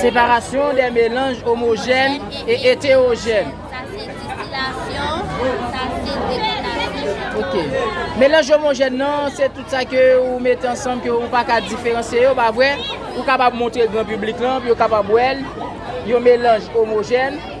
Separasyon de melanj omojèn e etewojèn. Melanj omojèn nan se tout sa ke ou mete ansanm ke ou pa ka diferansye yo pa vre? Ou kapab montre gran piblik lan pou yo kapab wè l yon melanj omojèn.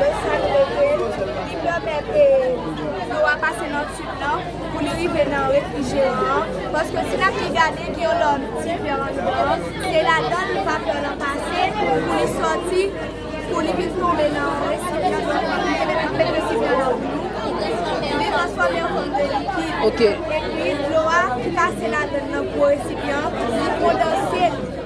Lè sa li rete, li pèmèt dlo a pase nan tib nan pou li rive nan refrijeran an, paske si n ap gade gen yon tib ki anndan an, se ladan l vapè lan pase pou li sòti pou li vin tonbe nan resipyan dlo a li te mete nan resipyan an pou nou, li transfòme an fòm de likid epi dlo a ki pase ladan nan gwo resipyan an li kondanse.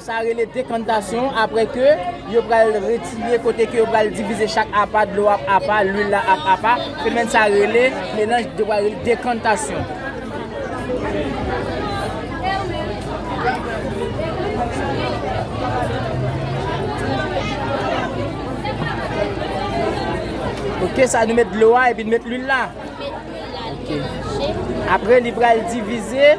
Sa rele dekantasyon apre ke yo pral retire kote ke yo pral divize chak apa, dlo ap apa, lwil la ap apa, fenomèn sa rele melanj yo pral rele dekantasyon. Ok sa nou met dlo a epi nou met lwil la. Apre li pral divize.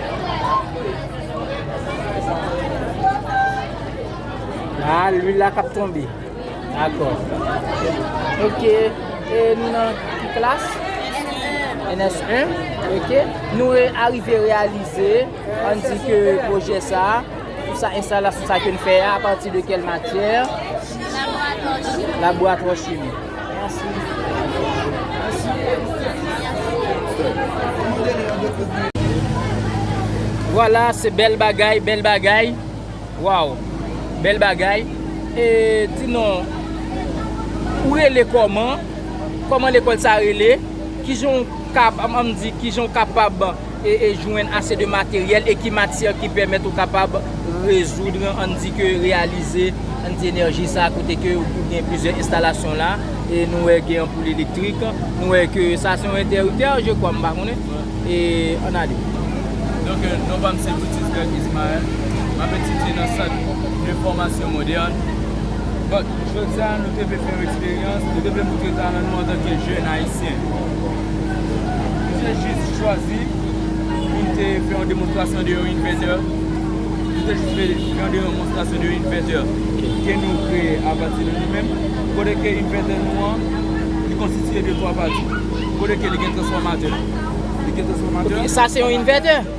Ah, lwi la kap tonbe. Dakò. Ok. E nou nan ki klas? NS1. Ok. Nou e arive realize, an di ke pwojè sa, pou sa enstalasyon sa ke n fè a, apati de kèl matyè? Laboratwa chimi. Laboratwa chimi. Vwala se bèl bagay, bèl bagay. Waw, bèl bagay. E di non, ou rele kòman? Kòman lekòl sa rele? Kijan ou kab, an m di, kijan ou kapab? e jwenn ase de materyèl e ki matyè ki pèmèt ou kapab rezoud, ann di ke reyalize, ann di enèji sa kote ke ou gen plizyè enstalasyon la e nou wè gen anpoul elektrik, nou wè ke sa se yon entèriptè je kwa m pa konnen e ann ale. Donk non pa m se Brutus Greg Ismael, m ap etidye nan sant de fòmasyon modèn. Donk jodi a nou te vle fè yon eksperyans, nou te vle moutre talan nou antanke jèn ayisyen. Misye jis chwazi pou l te fè yon demonstrasyon de yon invètè. Li te jis fè jan de demonstrasyon de yon invètè ke nou kreye apati de nou menm. Kote ke invètè nou an, li konstitiye de twa pati. Kote ke li gen transfòmatè. Li gen transfòmatè. Sa se yon invètè?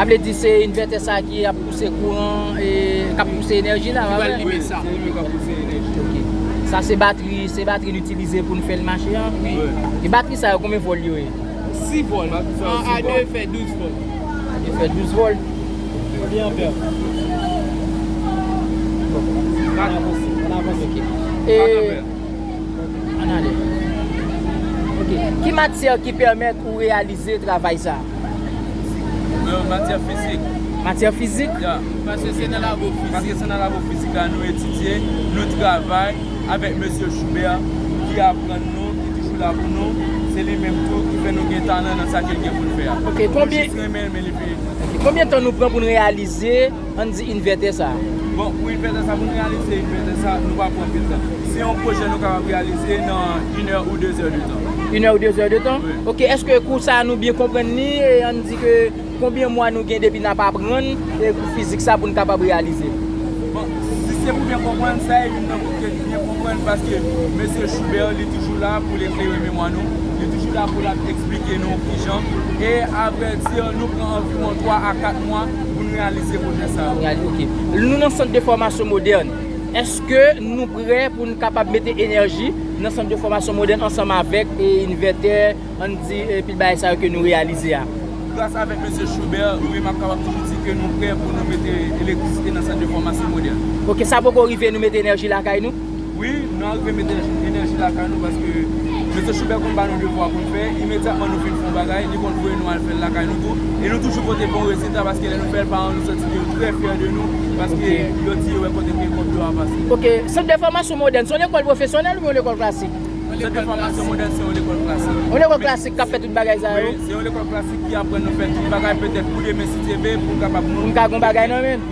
Sa vle di se inverter sa ki ap pouse kouran e kap pouse enèji la a vre? Wi, se li menm kap pouse enèji a. Ok. Sa se batri, se batri li itilize poul fèl mache an? Wi. E batri sa yo konbyen vòl yo ye? 6 vòl. Batri sa yo 6 vòl. 1 a 2 fè 12 vòl. A 2 fè 12 vòl. Konbyen anpè? Bon. Ann avanse. Ann avanse. Ok. E. 4 anpè. Ki matyè ki pèmèt ou reyalize travay sa? Yo, matyè fizik. Matyè fizik? Ya, paske se nan labo fizik. Paske se nan labo fizik la nou etidye, nou travay avèk mesye Joubert ki aprann nou, ki toujou la pou nou. Se li menm tou ki fè nou gen talan nan sa ke l gen pou l fè a. Ok, konbyen. Nou jis renmen l men li peye nou. Ok, konbyen tan nou pran pou nou reyalize? Ann di invètè sa a. Bon, pou invètè sa a, pou n reyalize invètè sa a, nou pa pran anpil tan. Se yon pwojè nou kapab reyalize nan inè ou dezè de tan. Inè ou dezè de tan? Wi. Ok, èske kou sa a nou byen konprann li e ann di ke konbyen mwa nou gen depi n ap aprann e kou fizik sa a pou n kapab reyalize l? Bon, si se pou byen konprann, sa e youn nan kou ke n byen konprann paske mesye Choubert li toujou la pou l eklere memwa nou, li toujou la pou l ap esplike nou kijan e avèdi nou pran anviwon twa a kat mwa. pou n reyalize pwojè sa yo. Nou nan sant de fòmasyon modèn, èske nou prè pou n kapab mete enèji nan sant de fòmasyon modèn ansanm avèk envètè, ann di pil bagay sa yo ke nou reyalize a? Gras avèk Mesye Choubert, wi m ap kapab toujou di ke nou prè pou nou mete elektrisite nan sant de fòmasyon modèn. Ok, sa poko rive nou mete enèji lakay nou? Wi, nou arive mete enèji lakay nou paske Mesye Choubert konn ba nou devwa pou n fè, imedyatman nou fin fè yon bagay, li konn voye nou al fè l lakay nou tou. E nou toujou pote bon rezilta paske lè nou fè l, paran nou santi ke yo trè fyè de nou paske yo di yo wè kote ke kòb yo a pase. Ok. Sant de fòmasyon modèn se yon lekòl pwofesyonèl oubyen yon lekòl klasik? Sant de fòmasyon modèn se yon lekòl klasik. Yon lekòl klasik k ap fè tout bagay sa yo? Wi, se yon lekòl klasik ki aprann nou fè tout bagay petèt pou demen si Dye vle pou n kapab moun. Pou n ka gen yon bagay nan men.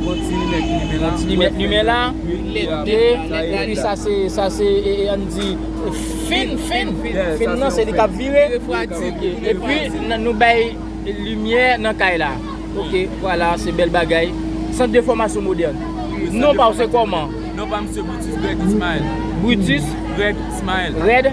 Bon ti limèt limen la. Bon ti limèt limen la. Lèt 2. Epi sa se, sa se, an n di fin, fin. Fin nan se li k ap vire. Refwadi. Epi nou bay limyè nan kay la. Ok, vwala, se bèl bagay. Sant de fòmasyon modèn. Non pa w se kòman? Non pa m se Brutus Greg Ismael. Brutus. Greg Ismael. Red.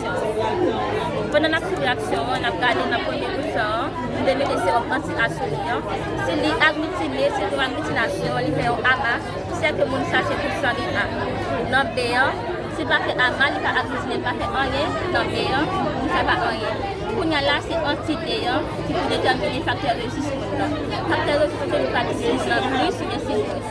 aksyon. Pandan n ap swiv reyaksyon an, n ap gade nan premye bouton an, nou dwe mete sewòm anti-asweli an. Si li agglitine, se yon agglitinasyon, li fè yon ama, ki fè ke moun sa se pou san li a. Nan B an, si l pa fè ama, li pa agglitine, li pa fè anyen, nan B an, moun sa pa anyen. Kounya la, se anti D an ki pou detèmine faktè rezis moun nan. Faktè rezis se nou ka di si moun nan plis oubyen si mwens.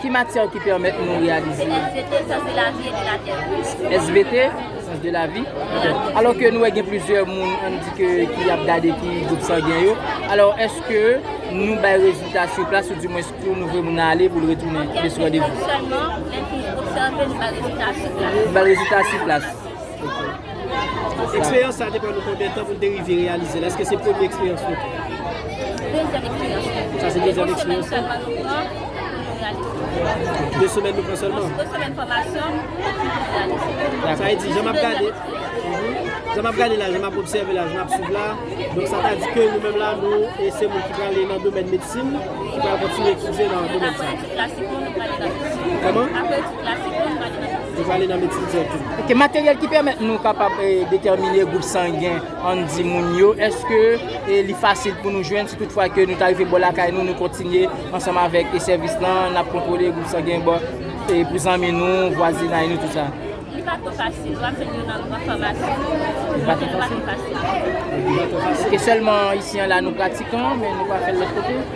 Ki matyè ki pèmèt nou reyalize? SVT, Sans de la vie et de la terre. SVT, Sans de la vie et de la terre. Alò ke nou wè gen plizyè moun an di ke ki ap gade ki gwoup sangen yo. Alò eske nou bay rezilta sou plas ou di mwens pou nou vre moun ale pou l retounen pou l sou randevou? Kèk minit sèlman, lè n fini obsève nou bay rezilta sou plas. Nou bay rezilta sou plas. Ok. Eksperyans sa te pran nou konbyen tan pou nou te rive reyalize l? Eske se premye eksperyans nou? Dezyèm eksperyans nou. Sa se dezyèm eksperyans nou? 2 semèn sèlman nou pran pou nou reyalize. 2 semèn nou pran sèlman? 2 semèn fòmasyon pou nou reyalize. Sa vle di, jan m ap gade, jan m ap gade la, jan m ap obsève la, jan m ap swiv la, donk sa ta di ke nou menm la nou e se moun ki prale nan domèn medsin, ki pral kontinye etidye nan domèn sa. Aprè etid klasik nou, nou prale nan medsin. Kòman? Aprè etid klasik nou, nou prale nan medsin. Li prale nan medsin dirèkteman. Ok, materyèl ki pèmèt nou kapab detèmine gwoup sangen ann di moun yo, èske li fasil pou nou jwenn si tout fwa ke nou ta rive bò lakay nou, nou kontinye ansanm avèk sèvis lan, n ap kontwole gwoup sangen bò pou zanmi nou, vwazinay nou, tout sa? Li pa twò fasil, w ap jwenn yo nan gran famasi yo. Li pa twò fasil? Li pa twò fasil. Ok, sèlman isi an la nou pratik an, men nou pa fè l lòt kote?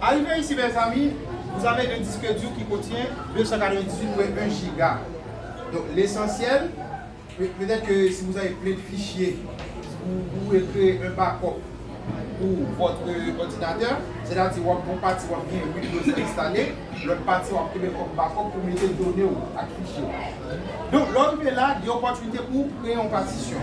Arive isi mezanmi, vous avez un disque dur qui contient 298 mwen 1 giga. Donc l'essentiel, peut être que si vous avez plein de fichiers, vous pouvez creer un backup pour votre ordinateur, c'est à dire wap gon pati wap gen windows lan installe, lot pati wap kenbe kom backup pou mete done ou ak fichier ou. Donc lè w rive la, gen opportunité pou w kreye yon partition.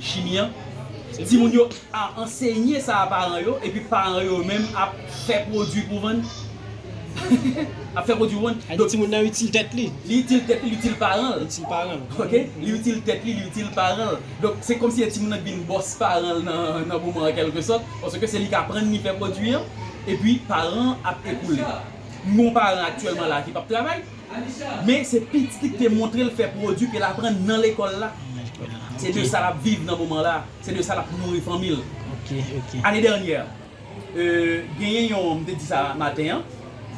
Chimi an, timoun yo a ansenye sa a paran yo epi paran yo menm ap fè pwodui pou vann. Ap fè pwodui pou vann. Donk timoun nan itil tèt li. Li itil tèt li, li itil paran l. Li itil paran l. Ok. Li itil tèt li, li itil paran l. Donk se kòmsi e timoun nan k vin bòs paran l nan moman an kèlke sòt, paske se li k aprann li fè pwodui an, epi paran an ap ekoule. M gen yon paran aktyèlman la a ki p ap travay, men se pitit li k te montre l fè pwodui ke l aprann nan lekòl la, se de sa l ap viv nan moman la a, se de sa l ap nouri fanmi l. Ane dènyè. Genyen yon, m te di sa maten an,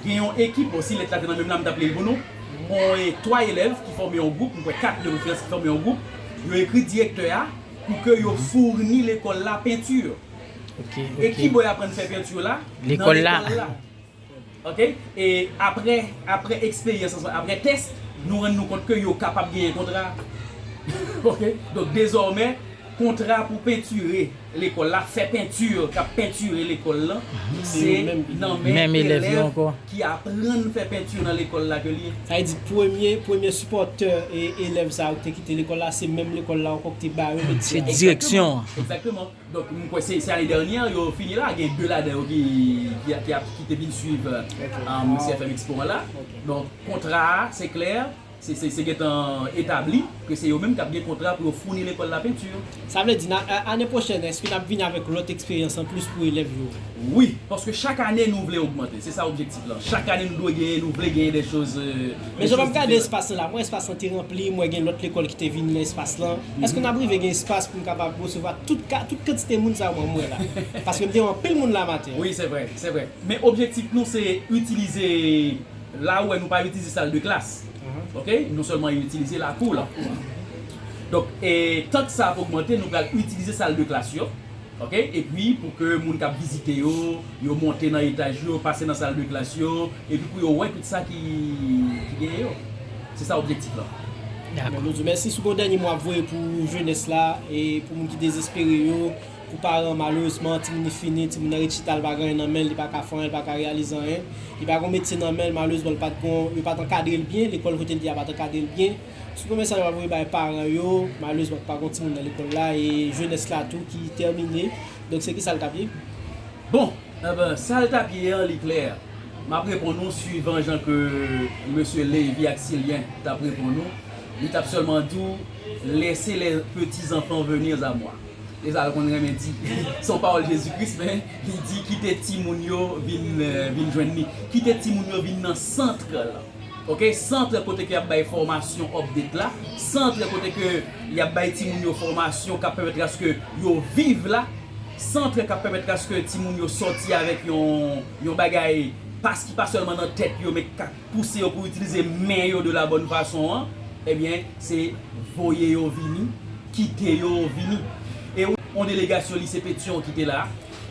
gen yon ekip, bon si lèt la te nan men m la m t ap li l pou nou, on e 3 elèv ki fòme yon gwoup, m kwè 4 de referans ki fòme yon gwoup, yo ekri direktè a pou ke yo fourni lekòl la peinture. E kibò y aprann fè peinture la? Nan lekòl la. Ok e aprè aprè eksperyans oswa aprè test nou rann nou kont ke yo kapab genyen kontra ok donk dezòmè kontra pou pentire lekòl la fè pentir kap pentire lekòl lan se nan men elèv ki aprann fè pentir nan lekòl la ke li ye. Sa vle di premye premye sipòtè elèv sa yo ki te kite lekòl la se menm lekòl la ankò ki te ba yo metye a. Se direksyon an. Egzakteman. Donk m kwè se ane dènyè yo fini la, gen 2 ladan yo ki te vin swiv CFM Expo an la. Donk kontra a se klè, se gentan etabli ke se yo menm k ap gen kontra pou yo founi lekòl la penti. Sa vle di ane pwochèn èske n ap vini avèk lòt eksperyans anplis pou elèv yo? Wi, paske chak ane nou vle ogmante, se sa objektif la. Non chak ane nou dwe genyen nou vle genyen de choz diferan. Men jan map gade espas lan la, m wè espas lan te ranpli, m wè gen lòt lekòl ki te vini nan espas lan. Eske nap rive gen espas pou n kapab resevwa tout ka, tout kantite moun sa yo mwen wè la? Paske m te wè anpil moun la maten an. Wi se vre, se vre. Men objektif nou se itilize la ou wè nou pa itilize sal de klas ok, nou sèlman itilize lakou la. Donk e tank sa ap ogmante nou pral itilize sal de klas yo. Ok epi pou ke moun kap vizite yo, yo monte nan etaj yo, pase nan sal de klas yo, epi pou yo wè tout sa ki genyen yo. Se sa objektif lan. Dakò nou di w mèsi. Si w gen yon dènye mo ap voye pou jenès la, e pou moun ki dezespere yo, pou paran malerezman timoun li fini, timoun nan ret chita li pa gen anyen nan men l, li pa ka fè anyen, li pa ka reyalize anyen. Li pa gen yon metye nan men l, malerezman li pat gen yon, yo pat ankadre l byen, lekòl kote l te a pat ankadre l byen. Sou premye mesaj map voye bay paran yo, malerezman pa gon timoun nan lekòl la e jenès la tou ki tèmine, donk se kisa l tap ye? Bon! Enben, sa l tap ye an li klè, map reponn ou swivan jan ke mesye Levy ak Sylien tap reponn ou, li tap sèlman di w Laissez les petits enfants venir à moi. Se sa l konn renmen di. Se yon pawòl Jezi Kris men li di kite timoun yo vin jwenn li, kite timoun yo vin nan centre lan. Ok centre kote ke yap bay fòmasyon update la, centre kote ke yap bay timoun yo fòmasyon kap pèmèt aske yo viv la, centre kap pèmèt aske timoun yo sòti avèk yon yon bagay pas ki pa sèlman nan tèt yo men ki ka pouse yo pou itilize men yo de la bòn fason an ebyen se voye yo vini kite yo vini e yon delegasyon lise petion ki te la.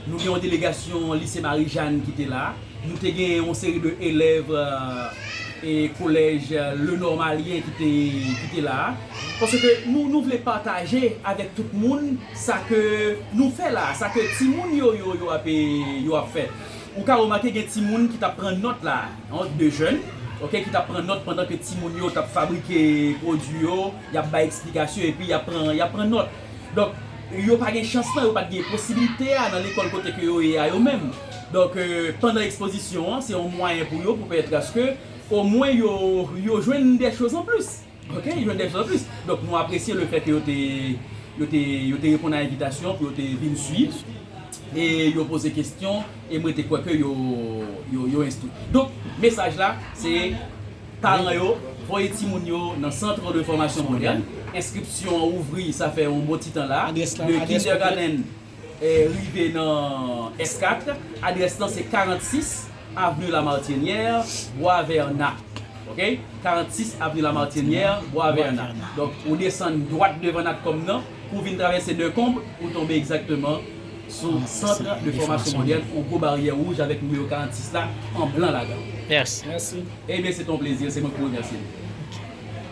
Nou gen yon delegasyon Lise Marijàn ki te la. Nou te gen yon seri de elèv kolèj Lenormalyen ki te la. Paske nou vle pataje avèk tout moun sa ke nou fè la a, sa ke timoun yo yo ap fè. Ou ka remake gen timoun ki t ap pran nòt la a, an, de jèn, ok, ki t ap pran nòt pandan ke timoun yo t ap fabrike pwodui yo, y ap bay eksplikasyon epi y ap pran nòt. Donk, yo pa gen chans lan, yo pa t gen posibilite a nan lekòl kote ke yo ye a yo menm. Donk, pandan ekspozisyon an, se yon mwayen pou yo pou pèmèt aske omwen yo, yo jwenn dè choz an plis. Ok, yo jwenn dè choz an plis. Donk, nou apresye le fè ke yo te, yo te, yo te reponn a envitasyon pou yo te vin suiv e yo poze kesyon e mwen te kwè ke yo, yo, yo enstwi. Donk, mesaj la, se. Paran yo voye timoun yo nan Centre de Formation Moderne. Enskripsyon an ouvri sa fè yon bon ti tan la. De Kindergarten rive nan S4. Adrès lan se 46 avenue Lamartinière, Boisverna. Ok. 46 avenue Lamartinière, Boisverna. Donk, ou desann dwat devan Natcom nan, pou w vin travèse Decombres, ou tonbe egzakteman. Sou centre de formation manuel on gwo baryè wouj avèk nimewo 46 la an blan ladanl. Mèsi. Ebyen se te yon plezi se mwen ki remèsye nou.